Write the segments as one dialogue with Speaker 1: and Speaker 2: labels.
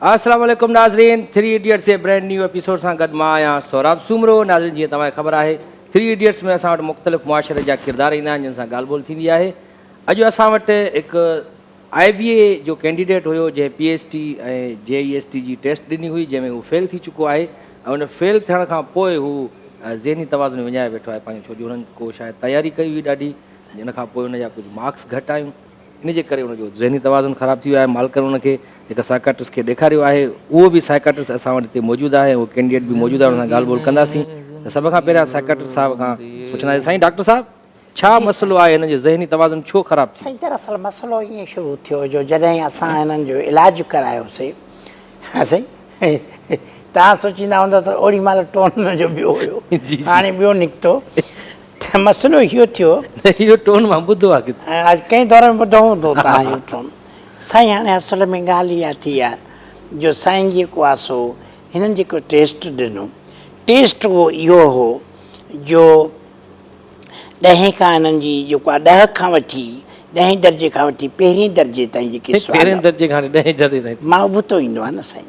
Speaker 1: السلام عليڪم ناظرين ٿري ايڊيٽس جي برينڊ نيو ايپيسوڊ سان گڏ مان آهيان سهراب سومرو ناظرين جيئن توهان کي خبر آهي ٿري ايڊيٽس ۾ اسان وٽ مختلف معاشري جا ڪردار ايندا آهن جن سان ڳالهه ٻولهه ٿيندي آهي اڄ اسان وٽ هڪ آء بي اي جو ڪينڊيڊيٽ هيو جنهن P S T ۽ G A S T جي ٽيسٽ ڏني هئي جنهن ۾ هو فيل ٿي چڪو آهي ۽ ان فيل ٿيڻ کان پوء هو ذهني توازن وڃائي ويٺو آهي پنهنجو ڇو جو هنن ڪو شايد تياري ڪئي هئي ڏاڍي جنهن کان پوء ان جا ڪجهه مارڪس گهٽ آيون ان جي ڪري ان جو ذهني توازن خراب ٿي ويو آهي، مالڪن ان کي هڪ سائڪاٽرسٽ کي ڏيکاريو آهي، اهو به سائڪاٽرسٽ اسان وٽ هتي موجود آهي ۽ اهو ڪينڊيڊيٽ به موجود آهي، ان سان ڳالهه ٻولهه ڪنداسين ته سڀ کان پهريان سائڪاٽرسٽ صاحب کان پڇنداسين سائين ڊاڪٽر صاحب ڇا مسئلو آهي هنن جو ذهني توازن ڇو خراب ٿي. سائين دراصل مسئلو
Speaker 2: ائين شروع ٿيو جو جڏهن اسان هنن جو علاج ڪرايوسي ها سائين توهان سوچيندا هوندو ته اوڙي مهل ٽون ان جو ٻيو هيو هاڻي ٻيو نڪتو ته مسئلو اهو ٿيو. اهو ٽون مان
Speaker 1: ٻڌو آهي ڪٿي. اڄ ڪنهن دور ۾
Speaker 2: ٻڌو هوندو توهان اهو ٽون. سائين هاڻي اصل ۾ ڳالهه اها ٿي آهي جو سائين جيڪو آهي سو هنن جيڪو ٽيسٽ ڏنو ٽيسٽ اهو اهو هو جو ڏهين کان هنن جي جيڪو آهي ڏهه کان وٺي ڏهين درجي کان وٺي پهرين درجي تائين جيڪي سوال. پهرين درجي کان وٺي
Speaker 1: ڏهين درجي تائين. مان ابتو ايندو آهي نه
Speaker 2: سائين.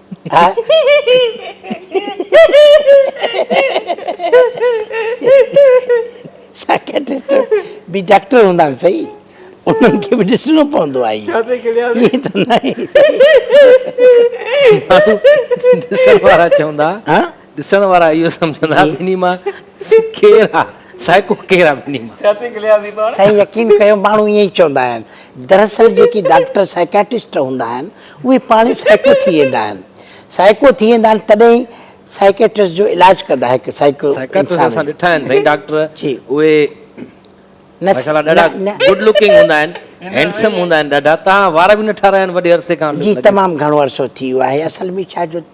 Speaker 2: سائڪيٽرسٽ به ڊاڪٽر هوندا آهن سهي انهن کي به ڏسڻو پوندو آهي ائين ته ناهي سهي
Speaker 1: ماڻهو ڏسڻ وارا چوندا ڏسڻ وارا اهو سمجهندا ٻنهي مان ڪير آ سائڪو ڪير آ ٻنهي مان. سائين يقين ڪيو
Speaker 2: ماڻهو ائين ئي چوندا آهن دراصل جيڪي ڊاڪٽر سائڪياٽسٽ هوندا آهن اهي پاڻ ئي سائڪو ٿي ويندا آهن سائڪو ٿي ويندا آهن تڏهن ئي سائڪيٽرسٽ جو علاج ڪندا هڪ سائڪو سائڪياٽرسٽ اسان
Speaker 1: ڏٺا آهن سائين ڊاڪٽر اهي ماشاءالله ڏاڍا گڊ لوڪنگ هوندا آهن هينڊسم هوندا آهن ڏاڍا تان وار به نه ٺارايا آهن وڏي عرصي کان جي تمام گهڻو عرصو
Speaker 2: ٿي ويو آهي اصل ۾ ڇا جو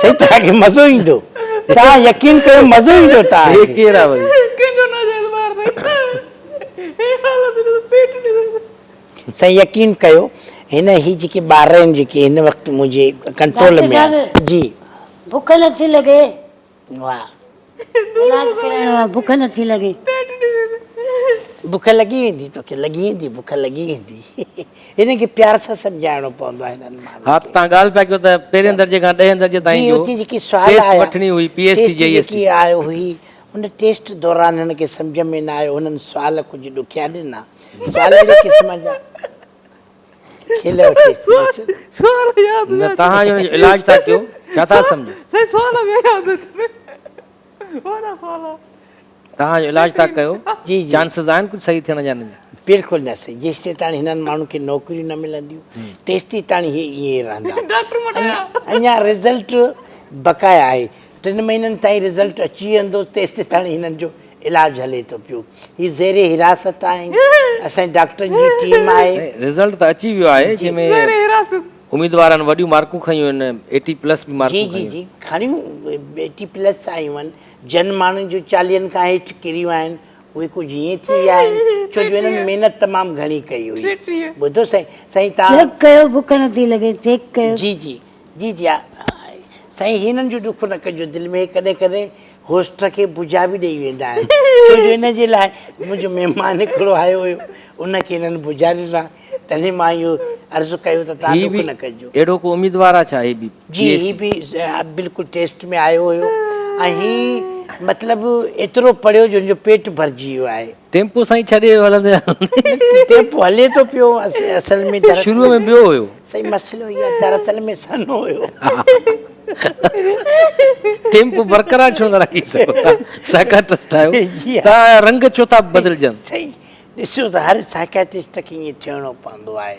Speaker 2: سائين توهان کي مزو ايندو توهان يقين ڪيو مزو ايندو توهان کي. هي ڪير آ وري. ڪنهن
Speaker 1: جو نه جيت مار سائين هي حالت
Speaker 2: ڏسو پيٽ ڏسو. سائين يقين ڪيو هن هي جيڪي ٻار آهن جيڪي هن وقت منهنجي ڪنٽرول ۾ آهن جي. ڊاڪٽر صاحب بک نٿي
Speaker 3: لڳي. اولاد پرائڻ وار بک نه ٿي لڳي.
Speaker 2: بک لڳي ويندي توکي لڳي ويندي بک لڳي ويندي هنن کي پيار سان سمجهائڻو پوندو آهي هنن ماڻهن کي ها ته تان ڳالهه پيا ڪيو ته
Speaker 1: پهرين درجي کان ڏهين درجي تائين جو ٽيسٽ
Speaker 2: وٺڻي هئي P S
Speaker 1: T
Speaker 2: G
Speaker 1: S T آيو هئي
Speaker 2: ان ٽيسٽ دوران هنن کي سمجهه ۾ نه آيو هنن سوال ڪجهه ڏکيا ڏنا سوال اهڙي قسم جا کل اچي کيس
Speaker 1: نه تهان جو علاج ٿا ڪيو ڇا ٿا سمجهو سائين سوال ٻيا ياد اچن وڏا سوال تهان جو علاج ٿا ڪيو جي چانسز آهن
Speaker 2: ڪجهه صحيح ٿيڻ
Speaker 1: جا نه بلڪل نه سائين
Speaker 2: جيستي تاڻي هنن ماڻهن کي نوڪريون نه ملنديون تيستي تاڻي هي ائين رهندا اڃا رزلٽ بقايا آهي ٽن مهينن تائين رزلٽ اچي ويندو تيستائين هنن جو علاج هلي ٿو پيو هي زير حراست آهن اسان جي ڊاڪٽرن جي ٽيم آهي. رزلٽ ته اچي ويو
Speaker 1: آهي جنهن ۾ اميدوارن وڏيون مارڪون کنيون آهن ايٽي پلس به مارڪون کنيون. جي جي جي کڻيون
Speaker 2: ايٽي پلس آيون آهن جن ماڻهن جون چاليهن کان هيٺ ڪريون آهن اهي ڪجهه هيئن ٿي ويا آهن ڇو جو هنن محنت تمام گهڻي ڪئي هئي ٻڌو سائين سائين تان چيڪ ڪيو بک نٿي
Speaker 3: لڳي چيڪ ڪيو جي جي جي جي
Speaker 2: ها سائين هينن جو ڏک نه ڪجو دل ۾ ڪڏهن ڪڏهن هوسٽ کي بجا به ڏئي ويندا آهن ڇو جو هن جي لاء منهنجو مهمان هڪڙو آيو هيو ان کي هنن بجا ڏنا تڏهن مان اهو عرض ڪيو ته توهان ڏک نه ڪجو. اهڙو ڪو اميدوار آ ڇا
Speaker 1: هي به جي هي به
Speaker 2: بلڪل ٽيسٽ ۾ آيو هيو ۽ هي مطلب ايترو پڙهيو جو هن جو پيٽ ڀرجي ويو آهي. ٽيمپو سائين ڇڏي هلندي
Speaker 1: هلندي ٽيمپو
Speaker 2: هلي ٿو پيو اصل ۾ شروع ۾ ٻيو هيو
Speaker 1: سائين مسئلو اهي آهي
Speaker 2: دراصل ۾ سنهو هيو
Speaker 1: ٽيمپو برقرار ڇو نه رکي سگهو ٿا سائڪاٽرسٽ آهيو ته رنگ ڇو ٿا بدلجن سائين ڏسو
Speaker 2: ته هر سائڪاٽرسٽ کي ائين ٿيڻو پوندو آهي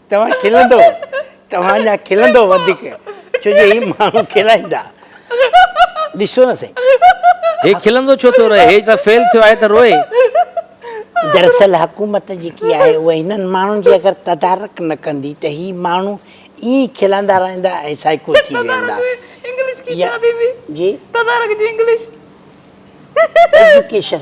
Speaker 2: توهان کلندو توهان جا کلندو وڌيڪ ڇو جو هي ماڻهو کلائيندا ڏسو نه سائين هي کلندو
Speaker 1: ڇو ٿو رهي هي ته فيل ٿيو آهي ته روئي.
Speaker 2: دراصل حڪومت جيڪي آهي اها هنن ماڻهن جي اگر تدارڪ نه ڪندي ته هي ماڻهو ائين کلندا رهندا ۽ سائيڪو ٿي ويندا جي تدارڪ جي انگلش ايجوڪيشن.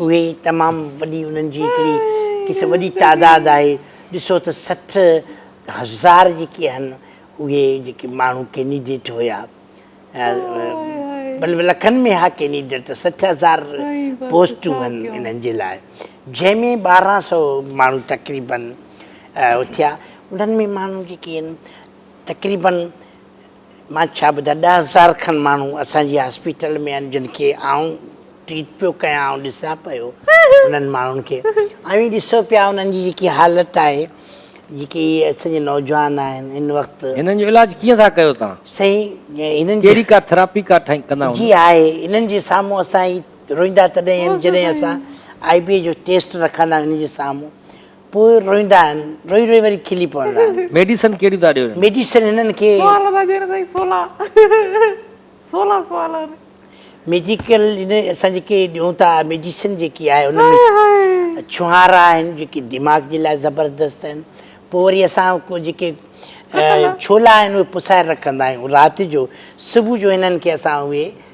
Speaker 2: اهي ئي تمام وڏي انهن جي هڪڙي قسم وڏي تعداد آهي ڏسو ته سٺ هزار جيڪي آهن اهي جيڪي ماڻهو ڪينيڊيٽ هيا بلڪ لکن ۾ ها ڪينيڊيٽ سٺ هزار پوسٽون آهن انهن جي لاء جنهن ۾ ٻارهن سو ماڻهو تقريبن اٿيا انهن ۾ ماڻهو جيڪي آهن تقريبن مان ڇا ٻڌان ڏهه هزار کن ماڻهو اسان جي هاسپيٽل ۾ آهن جن کي آئون ٽريٽ پيو ڪيان آئون ڏسان پيو انهن ماڻهن کي اوهين ڏسو پيا انهن جي جيڪي حالت آهي جيڪي اسان جي نوجوان آهن هن وقت هنن جو علاج ڪيئن ٿا
Speaker 1: ڪيو تان سائين
Speaker 2: هنن ڪهڙي ڪا ٿراپي
Speaker 1: ڪا ٺاهي ڪندا هوندا جي آهي هنن
Speaker 2: جي سامهون اسان روئندا تڏهن جڏهن اسان آئي بي جو ٽيسٽ رکندا هنن جي سامهون پوء روئيندا آهن. روئي روئي وري کلي پوندا آهن. ميڊيسن ڪهڙيون ٿا ڏيو.
Speaker 1: ميڊيسن هنن کي.
Speaker 2: سوال ٿا ڏين سائين سولا سولا سوال آهن. ميڊيڪل هن اسان جيڪي ڏيون ٿا ميڊيسن جيڪي آهي ان ۾ ڇهارا آهن جيڪي دماغ جي لاء زبردست آهن پوء وري اسان جيڪي ڇولا آهن اهي پسائي رکندا آهيون رات جو صبح جو هنن کي اسان اهي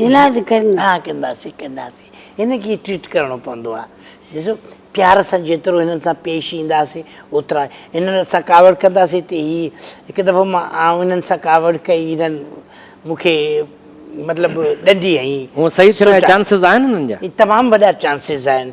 Speaker 2: عنايت ڪرن. ها ڪنداسين ڪنداسين هن کي ٽريٽ ڪرڻو پوندو آ ڏسو پيار سان جيترو هنن سان پيش اينداسين اوترا هنن سان ڪاوڙ ڪنداسين ته هي هڪ دفعو مان آئون هنن سان ڪاوڙ ڪئي هنن مون کي مطلب ڏنڊي هنئي. هونء صحيح ٿيڻ جا چانسز
Speaker 1: آهن هنن جا؟ تمام وڏا چانسز
Speaker 2: آهن.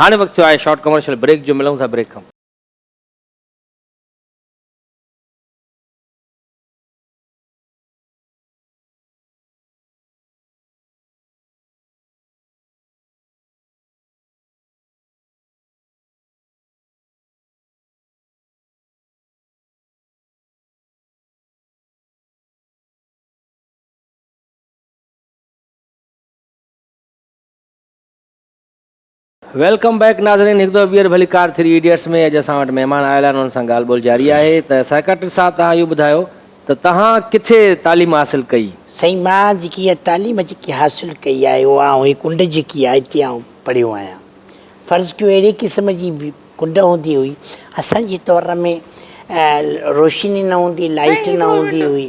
Speaker 1: هاڻي وقت ٿيو آهي شارٽ ڪمرشل بريڪ جو ملون ٿا بريڪ کان. ويلڪم بيڪ ناظرين هڪ دفعو ٻيهر ڀلي ڪار ٿري ايڊيٽس ۾ اڄ اسان وٽ مهمان آيل آهن انهن سان ڳالهه ٻولهه جاري آهي ته سائيڪاٽرسٽ صاحب توهان اهو ٻڌايو ته توهان ڪٿي تعليم حاصل ڪئي؟ سائين مان جيڪي
Speaker 2: اها تعليم جيڪي حاصل ڪئي آهي اها آئون هي ڪنڊ جيڪي آهي هتي آئون پڙهيو آهيان فرض ڪيو اهڙي قسم جي ڪنڊ هوندي هئي اسان جي دور ۾ روشني نه هوندي لائيٽ نه هوندي هئي.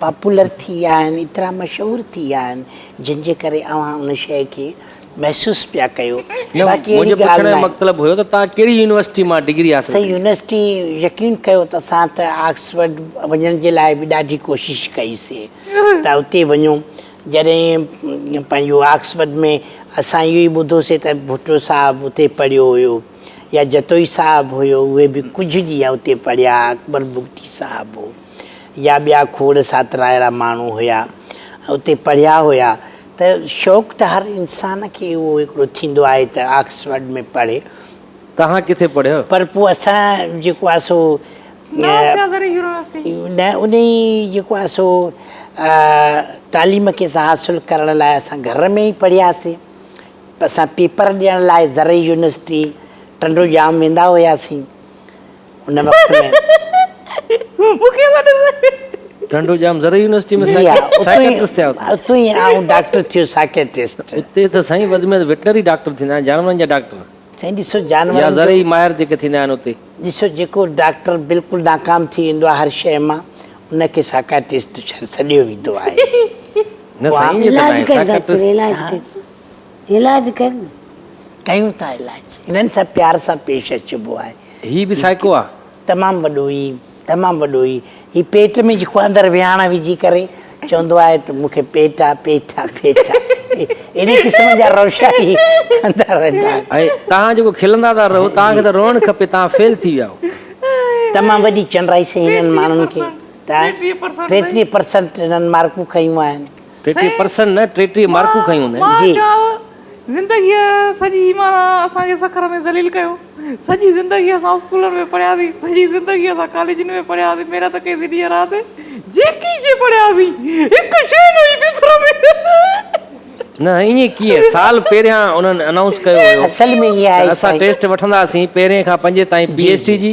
Speaker 2: پاپولر ٿي ويا آهن ايترا مشهور ٿي ويا آهن جن جي ڪري اوهان ان شيء کي محسوس پيا ڪيو باقي اهڙي
Speaker 1: ڳالهه ناهي.
Speaker 2: مطلب
Speaker 1: هيو
Speaker 2: ته توهان ڪهڙي
Speaker 1: يونيورسٽي مان ڊگري حاصل ڪئي؟ سائين يونيورسٽي
Speaker 2: يقين ڪيو ته اسان ته آڪسفورڊ وڃڻ جي لاء به ڏاڍي ڪوشش ڪئي سي ته اتي وڃو جڏهن پنهنجو آڪسفورڊ ۾ اسان اهو ئي ٻڌو سي ته ڀٽو صاحب اتي پڙهيو هيو يا جتوئي صاحب هيو اهي به ڪجهه ڏينهن اتي پڙهيا اڪبر بگٽي صاحب هو. يا ٻيا کوڙ ساتراهيڙا ماڻهو هيا اتي پڙهيا هيا ته شوق ته هر انسان کي اهو هڪڙو ٿيندو آهي ته آڪسفرڊ ۾ پڙهي. توهان ڪٿي
Speaker 1: پڙهيو؟ پر پوء اسان
Speaker 2: جيڪو آهي سو نه انهي جيڪو آهي سو تعليم کي اسان حاصل ڪرڻ لاء اسان گهر ۾ ئي پڙهياسين اسان پيپر ڏيڻ لاء زرعي يونيورسٽي ٽنڊو ڄام ويندا هياسين. ان وقت
Speaker 1: ٽنڊوڄام زرعي يونيورسٽي ۾ سائڪيٽرسٽ
Speaker 2: ٿيا
Speaker 1: اتي ئي آئون ڊاڪٽر
Speaker 2: ٿيو سائڪيٽرسٽ اتي ته سائين وڌ
Speaker 1: ۾ وڌ وٽنري ڊاڪٽر ٿيندا آهن جانورن جا ڊاڪٽر سائين ڏسو جانورن
Speaker 2: يا زرعي ماهر جيڪي ٿيندا
Speaker 1: آهن اتي ڏسو جيڪو
Speaker 2: ڊاڪٽر بلڪل ناڪام ٿي ويندو آهي هر شيء مان ان کي سائڪيٽرسٽ سڏيو ويندو آهي نه
Speaker 1: سائين ائين ته ناهي سائڪيٽرسٽ
Speaker 3: علاج ڪر نه. ڪيون ٿا
Speaker 2: علاج. هنن سان پيار سان پيش اچبو آهي. هي به سائيڪو آ.
Speaker 1: تمام وڏو هي
Speaker 2: تمام وڏو هي هي پيٽ ۾ جيڪو اندر ويهاڻ وجهي ڪري چوندو آهي ته مون کي پيٽ آ پيٽ آ پيٽ آ اهڙي قسم جا روشا هي ڪندا رهندا آهن. ۽ توهان جيڪو کلندا
Speaker 1: ٿا رهو توهان کي ته روئڻ کپي توهان فيل ٿي ويا آهو. تمام وڏي
Speaker 2: چنڊائي سائين هنن ماڻهن کي ته ٽيٽيهه پرسنٽ هنن مارڪون کنيون آهن. ٽيٽيهه پرسنٽ نه
Speaker 1: ٽيٽيهه مارڪون کنيون هن. مان چيو
Speaker 2: زندگيء
Speaker 4: سڄي معنيٰ اسان کي سکر ۾ ذليل ڪيو. سڄي زندگي اسان اسڪولن ۾ پڙهياسين، سڄي زندگي اسان ڪاليجن ۾ پڙهياسين، محنت ڪئيسين ڏينهن رات، جيڪي شيء پڙهياسين، هڪ شيء نه هئي سکر ۾. نه ائين ڪيئن؟
Speaker 1: سال پهريان انهن انائونس ڪيو هيو ته اسان
Speaker 2: ٽيسٽ وٺنداسين پهرين
Speaker 1: کان پنجين تائين پي ايڇ ڊي جي.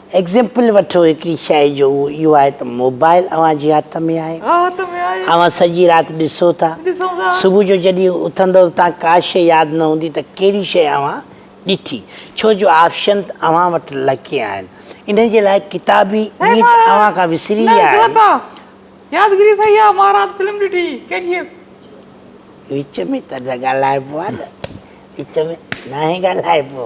Speaker 2: ايگزيمپل وٺو هڪڙي شئي جو اهو اهو آهي ته موبائل اوهان جي هٿ ۾ آهي اوهان سڄي رات ڏسو ٿا صبح جو جڏهن اٿندؤ ته تان ڪا شئي ياد نه هوندي ته ڪهڙي شئي اوهان ڏٺي ڇو جو آفشن اوهان وٽ لکي آهن انهي جي لاء ڪتابي نيت اوهان کان وسري ويا آهن يادگري سهي آهي
Speaker 4: مان رات فلم ڏٺي ڪي جي ايف
Speaker 2: وچ ۾ ته نه ڳالهائبو آهي نه وچ ۾ ناهي ڳالهائبو.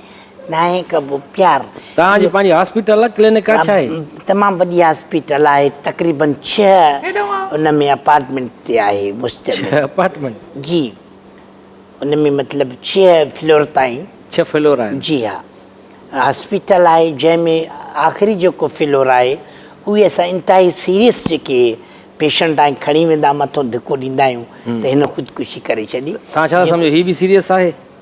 Speaker 2: ناهي ڪبو پيار. توهان جي پنهنجي
Speaker 1: هاسپيٽل آهي ڪلينڪ آهي ڇا هي. تمام وڏي
Speaker 2: هاسپيٽل آهي تقريبن ڇهه ان ۾ اپارٽمينٽ تي آهي مشتمل. ڇهه اپارٽمينٽ. جي ان ۾ مطلب ڇهه فلور تائين. ڇهه فلور آهن. جي
Speaker 1: ها
Speaker 2: هاسپيٽل آهي جنهن ۾ آخري جيڪو فلور آهي اهي اسان انتهائي سيريس جيڪي پيشنٽ آهن کڻي ويندا مٿو ڌڪو ڏيندا آهيون ته هن خودڪشي ڪري ڇڏي. توهان ڇا ٿا سمجهو هي به
Speaker 1: سيريس آهي.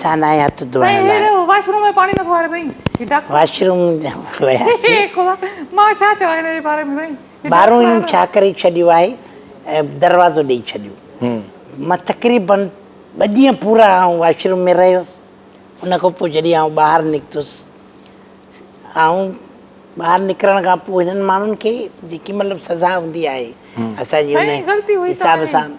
Speaker 2: سانائي هٿ ڌوئڻ لاء واشروم ۾ پاڻي نٿو
Speaker 4: آري سائين واشروم وياسين مان ڇا
Speaker 2: چوان هن جي باري ۾ سائين
Speaker 4: ٻاهرون هنن ڇا ڪري
Speaker 2: ڇڏيو آهي دروازو ڏئي ڇڏيو مان تقريبن ٻه ڏينهن پورا آئون واشروم ۾ رهيس ان کان پوء جڏهن آئون ٻاهر نڪتس آئون ٻاهر نڪرڻ کان پوء هنن ماڻهن کي جيڪي مطلب سزا هوندي آهي اسان جي ان حساب سان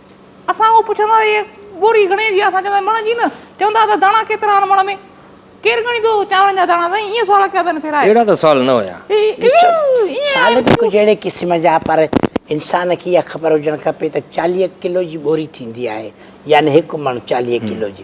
Speaker 4: اسان اهو پڇندا ته هيء ٻوري گهڻي جي آهي؟ اسان چوندا مڻ جي نه. چوندا ته داڻا ڪيترا آهن مڻ ۾؟ ڪير ڳڻيندو چانورن جا داڻا؟ سائين ائين سوال ڪيا اٿن ڦيرائي. اهڙا ته سوال نه هيا.
Speaker 2: سوال به ڪجهه اهڙي قسم جا پر انسان کي اها خبر هجڻ کپي ته چاليهه ڪلو جي ٻوري ٿيندي آهي يعني هڪ مڻ چاليهه ڪلو جي.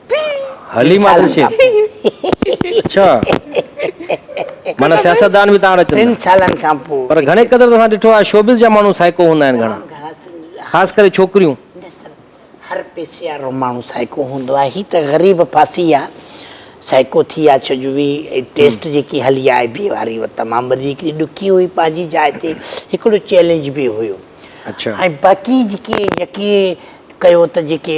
Speaker 2: حليمه
Speaker 1: ٽن سالن کان پوء
Speaker 2: پر
Speaker 1: گهڻي
Speaker 2: قدر ته اسان ڏٺو
Speaker 1: آهي شوبز جا ماڻهو سائيڪو هوندا آهن گهڻا خاص
Speaker 2: ڪري ڇوڪريون.
Speaker 1: هر
Speaker 2: پئسي وارو ماڻهو سائيڪو هوندو آهي هي ته غريب ڦاسي آهي سائيڪو ٿي آهي ڇو جو وي ٽيسٽ جيڪي هلي آهي آء بي واري هو تمام وڌيڪ ڏکي هئي پنهنجي جاء تي هڪڙو چئلينج به هيو ۽
Speaker 1: باقي جيڪي
Speaker 2: يقين ڪيو ته جيڪي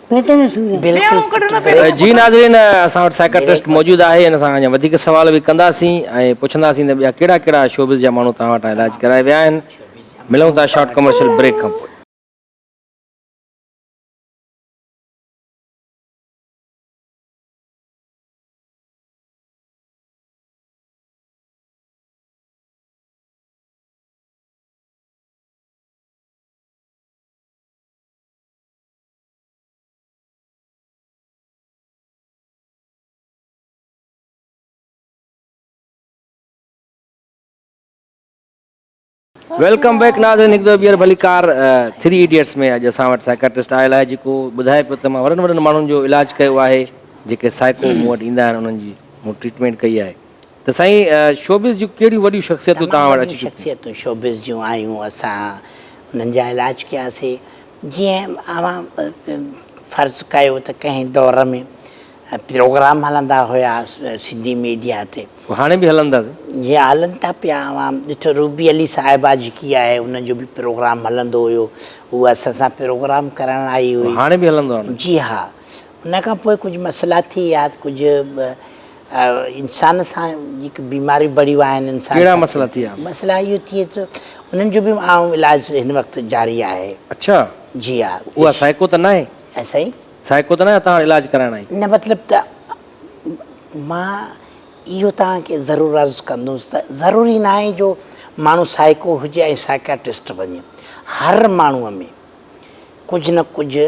Speaker 3: جي
Speaker 2: ناظرين
Speaker 1: اسان وٽ سائڪاٽرسٽ موجود آهي ان سان اڃا وڌيڪ سوال به ڪنداسين ۽ پڇنداسين ته ٻيا ڪهڙا ڪهڙا شوبز جا ماڻهو توهان وٽان علاج ڪرائي ويا آهن ملون ٿا شارٽ ڪمرشل بريڪ کان پوء. ويلڪم بيڪ ناظرين هڪ دفعو ٻيهر ڀلي ڪار ٿري ايڊيٽس ۾ اڄ اسان وٽ سائڪاٽرسٽ آيل آهي جيڪو ٻڌائي پيو ته مان وڏن وڏن ماڻهن جو علاج ڪيو آهي جيڪي سائيڪو مون وٽ ايندا آهن انهن جي مون ٽريٽمينٽ ڪئي آهي ته سائين شوبز جون ڪهڙيون وڏيون شخصيتون تمام وڏيون شخصيتون شوبز جون
Speaker 2: آيون اسان انهن جا علاج ڪياسي جيئن اوهان فرض ڪيو ته ڪنهن دور ۾ پروگرام هلندا هيا سنڌي ميڊيا تي. هاڻي به هلن ٿا.
Speaker 1: جي ها هلن ٿا
Speaker 2: پيا اوهان ڏٺو روبي علي صاحبه جيڪي آهي ان جو به پروگرام هلندو هيو هو اسان سان پروگرام ڪرڻ آئي هئي. هاڻي به هلندو. جي
Speaker 1: ها
Speaker 2: ان کان پوء ڪجهه مسئلا ٿي ويا ڪجهه انسان سان جيڪي بيماريون بڙيون آهن انسان ڪهڙا مسئلا ٿيا
Speaker 1: مسئلا اهو ٿئي ٿو
Speaker 2: انهن جو به عام علاج هن وقت جاري آهي اڇا جي ها
Speaker 1: اها
Speaker 2: سائيڪو ته ناهي
Speaker 1: ها سائين
Speaker 2: سائيڪو ته ناهي توهان
Speaker 1: علاج ڪرائڻ آئي نه مطلب ته
Speaker 2: مان اهو توهان کي ضرور عرض ڪندس ته ضروري ناهي جو ماڻهو سائيڪو هجي ۽ سائيڪاٽسٽ وڃي هر ماڻهو ۾ ڪجهه نه ڪجهه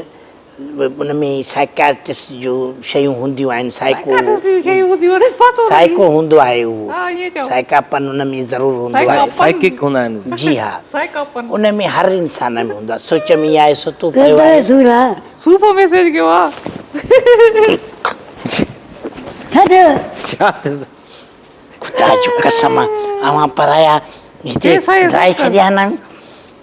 Speaker 2: ان ۾ سائڪياٽرسٽ جو شيون هونديون آهن سائڪو
Speaker 4: سائڪو هوندو
Speaker 2: آهي اهو سائڪاپن
Speaker 4: ان ۾
Speaker 2: ضرور هوندو آهي سائڪڪ هوندا آهن
Speaker 4: جي
Speaker 1: ها سائڪاپن
Speaker 2: ان ۾
Speaker 4: هر انسان
Speaker 2: ۾ هوندو آهي سوچ ۾ ايا آهي ستو پيو آهي سور آهي صوفو
Speaker 3: ميسيج ڪيو
Speaker 4: آهي
Speaker 1: ڇا ٿيو ڇا
Speaker 3: ٿيو
Speaker 1: خدا
Speaker 2: جو قسم اوهان پرايا هتي ڊرائي ڇڏيا
Speaker 4: نه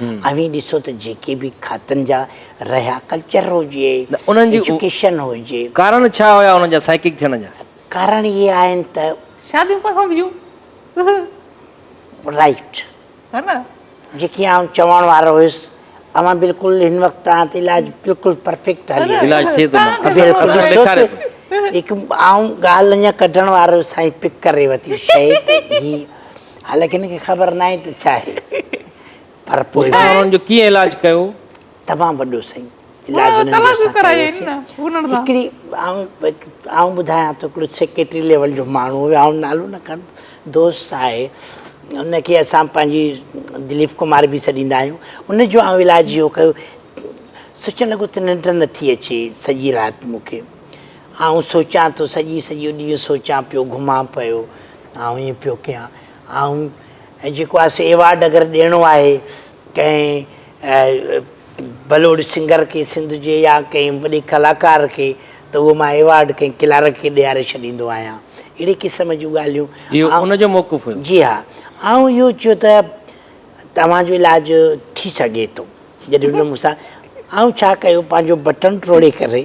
Speaker 2: اوهين ڏسو ته جيڪي به کاتن جا رهيا ڪلچر هجي، ايجوڪيشن
Speaker 1: هجي.
Speaker 2: ڪارڻ ڇا هيا انهن
Speaker 1: جا سائڪڪ ٿيڻ جا؟ ڪارڻ اهي آهن
Speaker 2: ته. شاديون پسند
Speaker 4: جون.
Speaker 2: رائيٽ. ها نه.
Speaker 4: جيڪي آئون
Speaker 2: چوڻ وارو هيس. اوهان بلڪل هن وقت توهان تي علاج بلڪل پرفيڪٽ هلي رهيو. علاج ٿئي ٿو نه. بلڪل
Speaker 1: ڏيکاري ٿو.
Speaker 2: هڪ آئون ڳالهه اڃا ڪڍڻ وارو سائين پڪ ڪري وتي شيء ته هي حالانڪه هن کي خبر ناهي ته ڇا آهي پر پوء به انهن جو ڪيئن علاج
Speaker 1: ڪيو؟ تمام وڏو
Speaker 2: سائين علاج انهن
Speaker 4: جو اسان ڪيوسين هڪڙي
Speaker 2: آئون ٻڌايان ٿو هڪڙو سيڪريٽري ليول جو ماڻهو هو آئون نالو نه کڻ دوست آهي ان کي اسان پنهنجي دليف ڪمار به سڏيندا آهيون ان جو آئون علاج اهو ڪيو سوچڻ لڳو ته ننڊ نٿي اچي سڄي رات مون کي آئون سوچان ٿو سڄي سڄو ڏينهن سوچان پيو گهمان پيو آئون ائين پيو ڪيان آئون جيڪو آهي سي ايوارڊ اگر ڏيڻو آهي ڪنهن بلوڙ سنگر کي سنڌ جي يا ڪنهن وڏي ڪلاڪار کي ته اهو مان ايوارڊ ڪنهن ڪلارڪ کي ڏياري ڇڏيندو آهيان اهڙي قسم جون ڳالهيون اهو ان جو موقف
Speaker 1: هيو
Speaker 2: جي ها
Speaker 1: آئون
Speaker 2: اهو چيو ته توهان جو علاج ٿي سگهي ٿو جڏهن هن مون سان آئون ڇا ڪيو پنهنجو بٽڻ ٽوڙي ڪري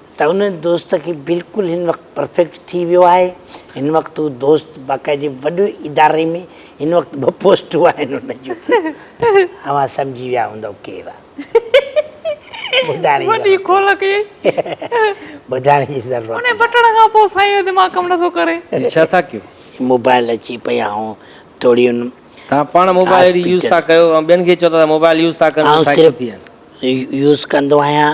Speaker 2: ته ان دوست کي بلڪل هن وقت پرفيڪٽ ٿي ويو آهي هن وقت هو دوست باقاعدي وڏي اداري ۾ هن وقت ٻه پوسٽون آهن ان جون اوهان سمجهي ويا هوندو ڪير آهي وڏي
Speaker 4: کول ڪيئي
Speaker 2: ٻڌائڻ جي ضرورت انهي بٽڻ کان پوء
Speaker 4: سائين جو دماغ ڪم نٿو ڪري هي ڇا ٿا ڪيو
Speaker 1: موبائل اچي پئي
Speaker 2: آئون ٿوري ان توهان پاڻ موبائل
Speaker 1: اهڙي يوز ٿا ڪيو ۽ ٻين کي چئو ٿا ته موبائل يوز ٿا ڪن سائيڪل ٿي آهن يوز ڪندو آهيان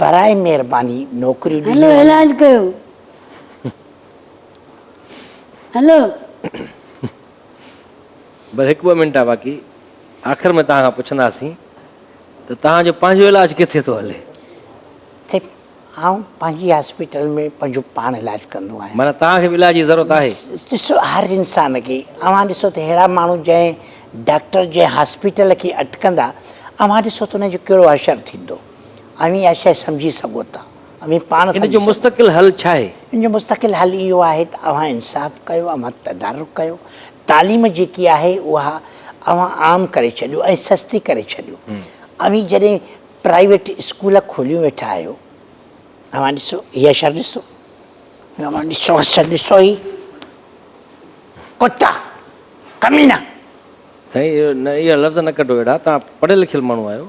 Speaker 2: براهه مهرباني نوڪريون ڏنيون وڃن. هلو علاج ڪيو
Speaker 3: هلو.
Speaker 1: بس هڪ ٻه منٽ آ باقي آخر ۾ توهان کان پڇنداسين ته توهان جو پنهنجو علاج ڪٿي ٿو هلي؟ سائين
Speaker 2: آئون پنهنجي هاسپيٽل ۾ پنهنجو پاڻ علاج ڪندو آهيان. معنيٰ توهان کي به علاج جي ضرورت
Speaker 1: آهي؟ ڏسو هر
Speaker 2: انسان کي اوهان ڏسو ته ههڙا ماڻهو جنهن ڊاڪٽر جنهن هاسپيٽل کي اٽڪندا اوهان ڏسو ته انهن جو ڪهڙو حشر ٿيندو. اوهين اها شيء سمجهي سگهو ٿا، اوهين پاڻ سمجهي سگهو ٿا. ان جو مستقل حل
Speaker 1: ڇا آهي؟ ان جو مستقل حل
Speaker 2: اهو آهي ته اوهان انصاف ڪيو، اوهان تدارڪ ڪيو، تعليم جيڪي آهي اها اوهان عام ڪري ڇڏيو ۽ سستي ڪري ڇڏيو. اوهين جڏهن پرائيويٽ اسڪول کوليون ويٺا آهيو، اوهان ڏسو هي اشر ڏسو، اوهان ڏسو اشر ڏسو هي ڪتا، ڪمينا.
Speaker 1: سائين اهي لفظ نه ڪڍو اهڙا، توهان پڙهيل لکيل ماڻهو آهيو.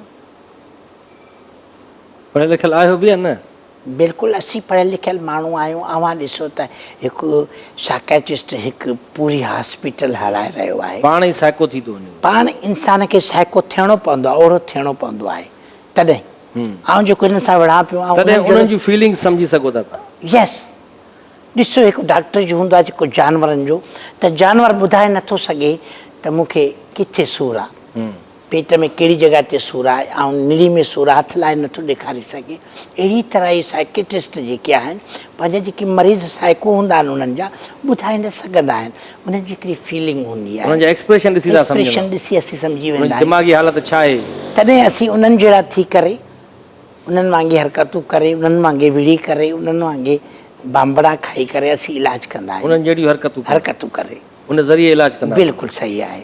Speaker 1: پڙهيل لکيل آهيو به يا نه؟ بلڪل اسين
Speaker 2: پڙهيل لکيل ماڻهو آهيون اوهان ڏسو ته هڪ سائڪيٽرسٽ هڪ پوري هاسپيٽل هلائي رهيو آهي. پاڻ ئي سائڪو ٿي ٿو
Speaker 1: وڃي. پاڻ انسان کي
Speaker 2: سائڪو ٿيڻو پوندو آهي اهڙو ٿيڻو پوندو آهي تڏهن آئون جيڪو هنن سان وڙهان پيو آئون تڏهن انهن جون فيلنگس
Speaker 1: سمجهي سگهو ٿا تهان. يس
Speaker 2: ڏسو هڪ ڊاڪٽر جو هوندو آهي جيڪو جانورن جو ته جانور ٻڌائي نٿو سگهي ته مون کي ڪٿي سور آهي پيٽ ۾ ڪهڙي جڳهه تي سور آهي آئون نڙي ۾ سور هٿ لائي نٿو ڏيکاري سگهين اهڙي طرح ئي سائڪيٽرسٽ جيڪي آهن پنهنجا جيڪي مريض سائڪو هوندا آهن انهن جا ٻڌائي نه سگهندا آهن انهن جي هڪڙي فيلنگ هوندي آهي انهن جا ايڪسپريشن ڏسي سان سمجهندا
Speaker 1: ايڪسپريشن ڏسي اسين سمجهي ويندا
Speaker 2: آهيون دماغي حالت ڇا آهي
Speaker 1: تڏهن اسين انهن
Speaker 2: جهڙا ٿي ڪري انهن وانگي حرڪتون ڪري انهن وانگي وڙهي ڪري انهن وانگي بانبڙا کائي ڪري اسين علاج ڪندا آهيون انهن جهڙيون حرڪتون ڪري حرڪتون
Speaker 1: ڪري ان
Speaker 2: ذريعي علاج
Speaker 1: ڪندا آهيون بلڪل صحيح آهي.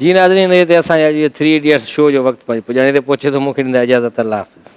Speaker 1: جي ناظرين هتي اسان جي اڄ جي ٿري ايڊيٽس شو جو وقت پنهنجي پڄاڻي تي پهچي ٿو مون کي ڏيندا اجازت الله حافظ.